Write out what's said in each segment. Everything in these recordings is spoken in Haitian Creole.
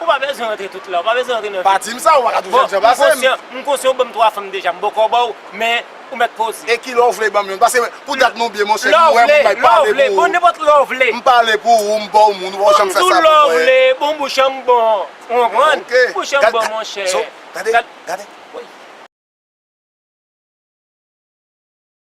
Ou pa bezwen antre tout la, ou pa bezwen antre nan vi m. Pa di m sa, ou pa ka toujou ap jan pase m. M konsyan ou ban m 3 fanm deja, m poko ba w, men ou mèt poze. E kilè w vle ban m youn? Pase pou dat nou byen monchè, m wè moun bay pale pou ou. Lè w vle, lè w vle, bon nenpòt lè w vle. M pale pou ou, m ba w moun, ou pa janm fè sa pou mwen. Bon m di w lè w vle, bon bouch an m bon, ou konprann? Bouch an m bon monchè. Gade, gade.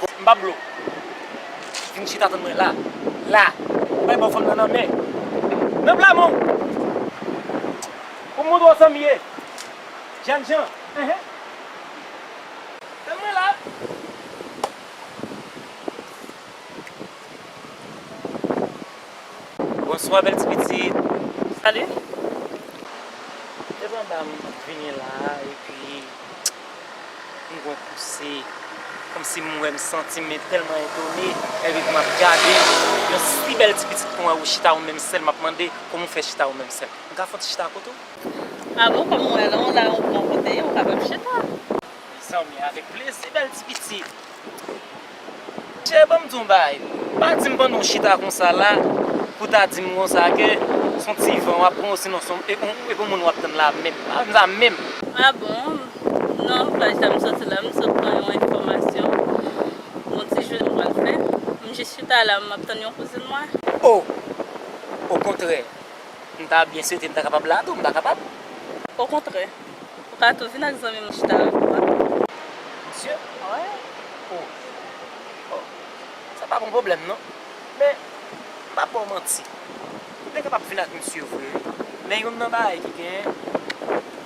Bon m pa blo Vin chita tann mwen la La M bay baw fanm nan nan men Nan pla men w Pou m montre w sa m ye Jènjan Ehe Tann mwen la Bonswa bèl ti pitit Salut Devan ba m vini la epi. M gon pouse Kòmsi m wè m santi m tèlman etone Ève pou m ap gade Yon si bèl ti pitit pou mwen Ou chita ou menm sèl M ap mande Kòman ou fè chita ou menm sèl M ka fè yon ti chita akote w? A bon kòm m wè lè w la ou bon kote Ou kapab chita Mezanmi avèk plezi bèl ti pitit. Chè banm di yon bagay, pa dim pandan w chita konsa la pou ta dim konsa ke son ti van wap pran osinon son e pou moun wap tann la menm, pa dim sa menm. Ah bon? Non, paj sa m soti la m sot pran yon enfòmasyon pou yon ti jwèt m pral fè. M jis chita la map tann yon kouzin mwen. Oh! Okontrè, m ta byen swete m ta kapab la tou, m pa kapab? Okontrè, Kato vin ak zanmi mwen chita avèk mwen. Mesye mwen oh oh sa pa bon pwoblèm non men m pap baw manti ou te kapab vin ak misye vre wi men youn nan bagay ki genyen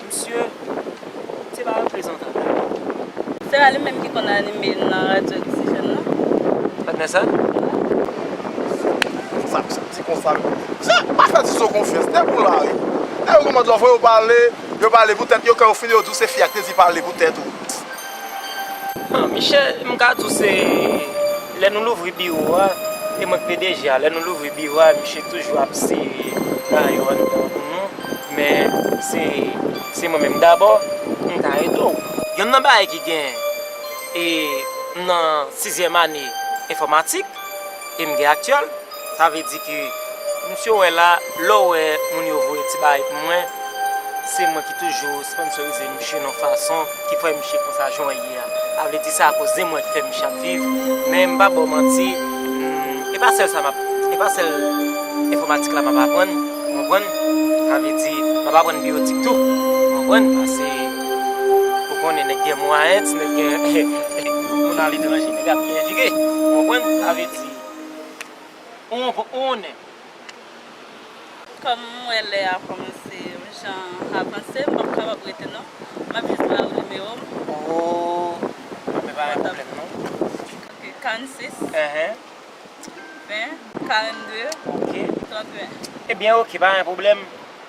misye se pa yon prezantatè non. Se pa li menm ki konn anime nan radyo oxygène nan? Patnè sa? Wi. Sa konsa. Ti konsa wi. Se, pa fè ti zo konfyans. Nèg ou la wi. Nèg yo kòmanc lòv wè yo pale, yo pale pou tèt yo kè yo fini yo di w se fi a ki te di pale pou tèt ou. Bon, Michel, m ka di w se lè nou louvri biwo a, e mwen k pdg a, lè nou louvri biwo a misye toujou ap sere mayo anndan pou nou, men se se mwen menm dabò, m ka ede w. Yonn nan bagay ki gen, e m nan sizyèm ane enfòmatik, e m gen aktyèl. Sa vle di ke misye ou wè la, lè ou wè moun yo voye ti bagay pou mwen, se mwen ki toujou sponsorize misye nan fason ki fè misye konsa jan ou ye a. A vle di se a koz de mwen ki fè misye ap viv. Men m pa ba w manti, e pa sèl sa m ap, e pa sèl enfòmatik la m ap aprann, ou konprann. Sa vle di, m ap aprann biyotik tou, ou konprann, pase ou konnen nèg gen mwayen, ti nèg gen, moun aletranje, nèg ap byen vire, ou konprann. Sa vle di. Kòm m wè lè a kòmanse yon jan avanse m pap kapab rete non map jis ba ou nimewo m Mwen pa gen pwoblèm non Ok 46 20 42 31 Ebyen ok pa gen pwoblèm.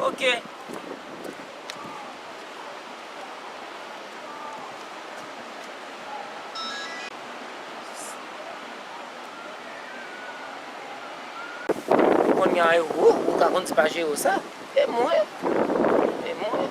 Ok. Konya yo, wou, ou ta konn ti pa jere w sa? E mwen? E mwen?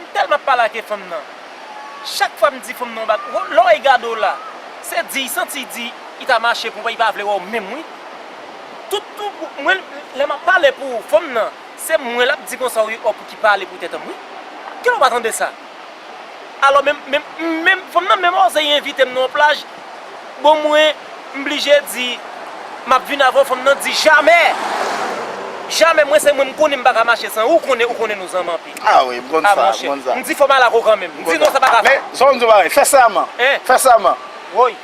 M telman pa lage fanm nan. Chak fwa m di fanm nan w bag ho lè w e gade w la. Se di y santi y di y ta mache pou wè y pa vle wè w menm wi. Tout tou mwen lè map pale pou ou fanm nan se mwen lap di konsa wi oh pouki pale pou tetanm wi. Kilè w pa tande sa. Alò menm menm m menm fanm nan menm oze y envite m nan yon plaj. Bon mwen m blije di map vin avèw fanm nan di jamè jamè mwen se mwen m konnen m paka mache san ou konnen ou konnen nou zanmi anpil Ah wi m konn sa m konn sa m di fòm al ak ou kanmenm m di non sa paka fèt Men zòm di yon bagay fè sèman fè sèman Woy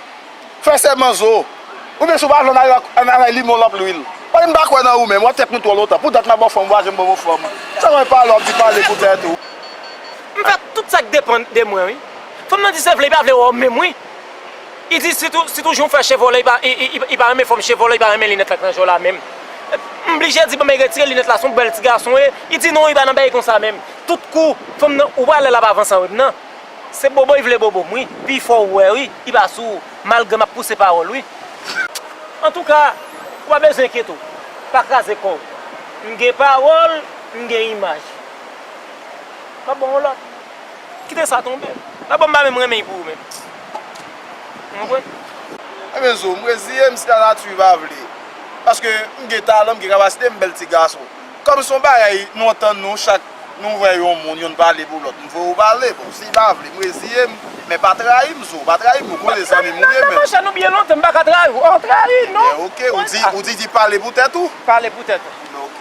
fè sèman zo oubyen si w pa vle an al bay limon lan lwil Woy m pa kwè nan ou menm wap fè kont ou lontan pou dat map baw fanm ou pa janm ban mwen fanm sa wè pale wap di pale pou tèt ou. M fè tout sak depann de mwen wi fanm nan di se vle li pa vle wè w menm wi. Idi si tou jou fè chevole li pa renmen fòm chevole li pa renmen linèt la ki nan je la menm m blije di banm retire linèt la son bèl ti gason ye idi non li pa nan bèy konsa menm tout kou fanm nan ou pa wè lèl ap avanse avèm nan se bobo li vle bobo m wi pi fò ou wè wi li pa sou malgre map pouse pawòl wi antouka ou pa bezwen enkyete w pa kraze kò w m gen pawòl m gen imaj map ba w yon lòt. Kite sa tonbe. La bonne m'a menm renmen pou ou menm. Ou konprann? Ebyen zo, m reziye m si la nati pa vle. Paske m gen talan, m gen kapasite, m bèl ti gason. Kòm son bagay nou antann nou chak nou wè yon moun, yonn pale pou lòt, m voye ou pale. Bon, si pa vle, m reziye m. Men pa trayi m zo, pa trayi m. Ou konnen zanmi m ou ye menm. Nan mon chè nou byen lontan, m pa ka trayi ou. Ou trayi m non. Ebyen ok, ou di ki pale pou tèt ou. Pale pou tèt ou. Ebyen ok.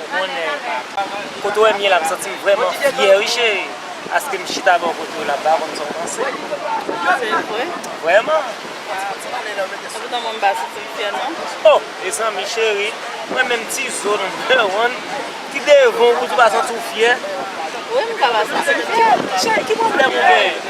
Ou konnen kote w wè m ye la m santi m vrèman fyè wi cheri paske m chita bò kote w la m pa konn sa w panse Se vre? Vrèman Sa pou tan mwen m pa santi m fyè non O! Mezanmi cheri mwen menm ti zo nonpè w an ki devan w pou tou pa santi w fyè Wi m ka pa santi m fyè Cheri ki pwoblèm ou genyen?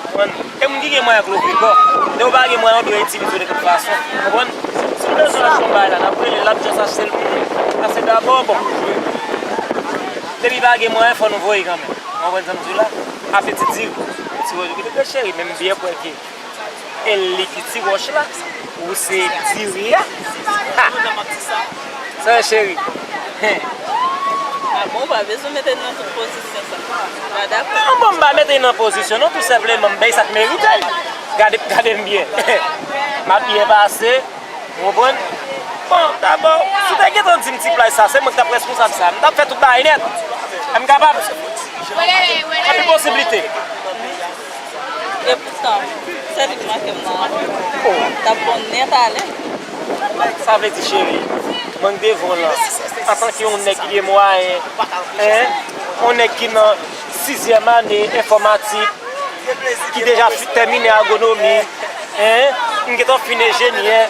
Konprann? E moun ki gen mwayen ak lòt pi fò. Lè yo pa gen mwayen yo dwe itilize yo de tout fason. Konprann? Si nou bezwen achte yon bagay la, n ap rele l, l ap just achte l pou nou. Sa se dabò, bon, pou jwe. Depi pa gen mwayen, fò nou voye kanmenm. Ou konprann sa m di w la? Afe ti diri. Ti wòch, gade cheri, menm byè kwè ke el li ki ti wòch la. Ou se diri a Sa ye cheri Bon ou pa bezwen mete li nan tout pozisyon sa Ou pa dakò Non bon m pa mete li nan pozisyon non tou senpleman m bay sa k merite l Gade m byen M ap byen pase Ou konprann Bon dabò si w te gentan di m ti plaj sa se mwen ki t ap responsab sa M t ap fè tout bagay nèt M kapab Gen posiblite Epoutan, sèl li ki manke m nan an. T ap bon nèt ale. Sa vle di cheri, mank de vo lan, antanke yon nèg ki gen mwayen, en, yon nèg ki nan sizyèm ane enfòmatik, ki deja tèmine agwonomi, en, m gen tan fin enjenyè,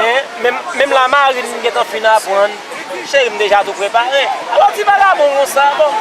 en, menm lamarin m gen tan fin aprann, cheri m deja tou prepare. Alò ti vagabon konsa, bon.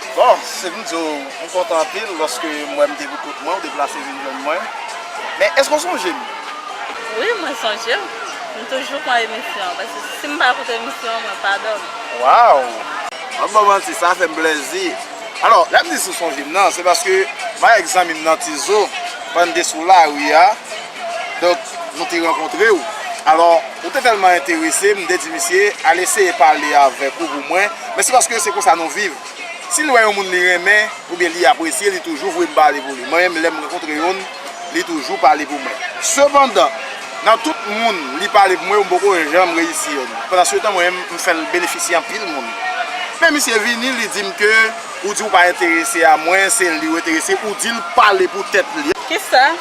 Bon, se pou m di w, m kontan anpil lòske m wè m te pou kont mwen, ou deplase vin jwenn mwen. Men, èske w sonje m? Wi, mwen sonje w. M toujou pran emisyon an, paske si m pa koute emisyon an, mwen pa dòmi. Waw! Pa m ba w manti, sa fè m plèzi. Alò, lè m di si w sonje m nan, se paske m avèk zanmi m nan Tizo, pann n te sou lari a, Donk, nou te rankontre ou. Alò, ou te tèlman enterese, m te di misye, al eseye pale avèk ou pou mwen, men se paske se konsa nou viv. Si l wè yon moun li renmen, oubyen li apresye, li toujou voye m pale pou li. Mwen menm, lè m rankontre youn, li toujou pale pou mwen. Sepandan, nan tout moun li pale pou mwen yo, m poko janm reyisi youn. Pandansetan, mwen menm, m fè l benefisye anpil moun. Men misye vini, li di m ke ou di ou pa enterese a mwen, se li ou enterese, ou di l pale pou tèt li. Kisa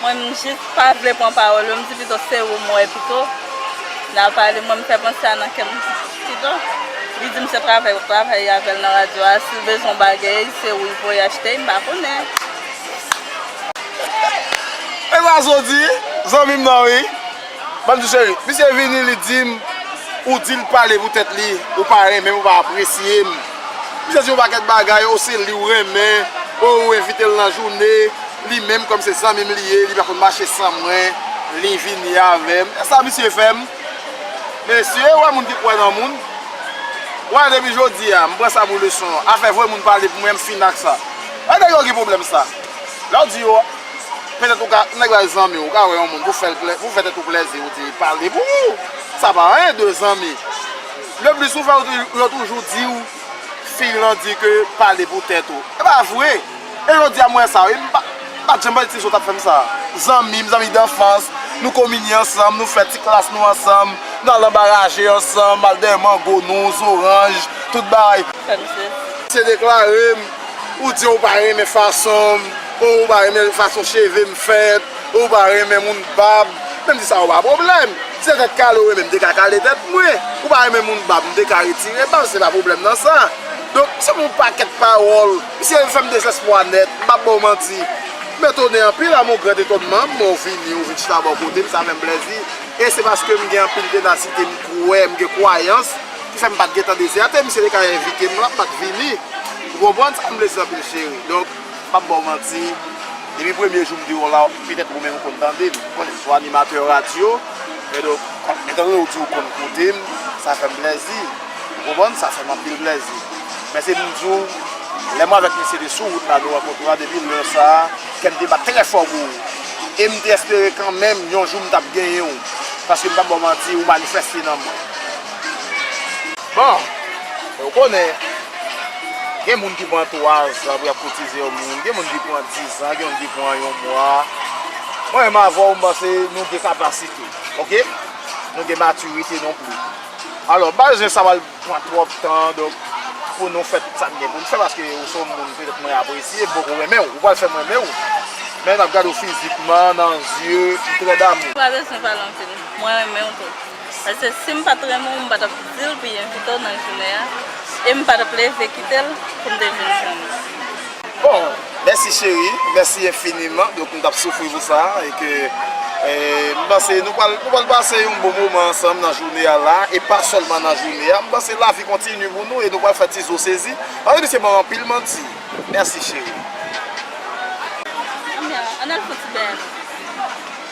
Mwen m jis pa vle pran pawòl yo m di pito se ou m wè pito nan pale mwen m fè panse a nan kèm pito li di m se travay wap travay avèl nan radyo a sil bezwen yon bagey se ou li voye achte m pa konnen. Esa soti zanmim nan wi. Bonjou chérie, misye vini li dim ou dil pale pou tèt li, ou pa renmenm ou pa apresyem. Misye di yon pakèt bagay, oh se liw renmen, oh ou envitel nan joune, li menm kòm se zanmim li ye, li pa konn mache san mwen, li vini avèm. Esa misye fèm? Mesye wè moun ki kwè nan moun, wè depi jodia m pran sa pou leson, afè voye moun pale pou mwen m fini ak sa. Wè nèg yo gen pwoblèm sa. Lèw di yo Men tèt ou ka, nèg la zanmi w, ou ka wè yon moun pou fè l plè, pou fè tèt ou plèzi ou di pale pou ou, sa pa anyen 2 zanmi. Le plis ou fè ou di, yo toujou di w fi lan di ke pale pou tèt ou. E pa vre. E jodi a m wè sa wi, m pa, m pa janm pale ti sou tap fè m sa. Zanmi m, zanmi danfans, nou kominye ansanm, nou fè ti klas nou ansanm, nou al anba raje ansanm, al dèyè mango nou, zoranj, tout bagay. Se deklare m. Ou di ou pa renmen fason m, ou ou pa renmen fason cheve m fèt, ou pa renmen moun bab, men m di sa yo pa pwoblèm. Si se tèt kale ou renmen m te ka kale tèt mwen, ou pa renmen moun bab m te ka retire bab, se pa pwoblèm nan sa. Donk, se yon pakèt pawòl, misye fè m dezèspwa nèt, m pap ba w manti. M etone anpil, a mon grand etonnement, m wè w vini, ou vin chita bò kote m, sa fè m plèzi. E se paske m gen anpil tenasite, m kwè, m gen kwayans. Ki fèm pat gentan dezète misye te ka envitem lan mpat vini ou konprann sam vle di anpil cheri donk pap baw manti depi premye jou mdi w la petèt ou menm ou konn tandem ou konnen msou animatè radyo e donk etan donne ou di ou konn koutem sa fèm plèzi ou konprann sa fèm anpil plèzi men se pou mdi w lè mwen avèk misye te sou wout la nou rankontre depi lè sa. Kèm te bat trè fò pou ou e m te espere kanmenm yon jou m t ap genyen ou paske m p ap ba w manti ou manifèste nan mwen. Bon, e ou konnen, gen moun ki pran twazan pou y ap koutize yon moun, gen moun ki pran dizan, gen moun ki pran yon mwa. Mwen menm avè w m panse nou gen kapasite, ok? Nou gen matirite non pli. Alò, m pa bezwen sa w al. pran twòp tan donk pou nou fè tout sa n gen pou n fè paske ou se yon moun petèt mwen apresye m poko renmen w ou pral fè m renmen w men m ap gade w fizikman nan zye m trè damou. Pa bezwen pale anpil mwen renmen w tou paske si m pa t renmen w m pa t ap di l pou l envite w nan jounen an e m pa t ap leve kite l pou m te vin jwenn ou. Bon mèsi cheri mèsi enfiniman donk nou tap soufri pou sa e ke m panse nou pral nou pral pase yon bon moman ansanm nan joune a la e pa sèlman nan joune a m panse lavi kontini pou nou e nou pral fè ti zo sezi paske misye banm anpil manti mèsi cheri. Anmyee an al fon ti bèè.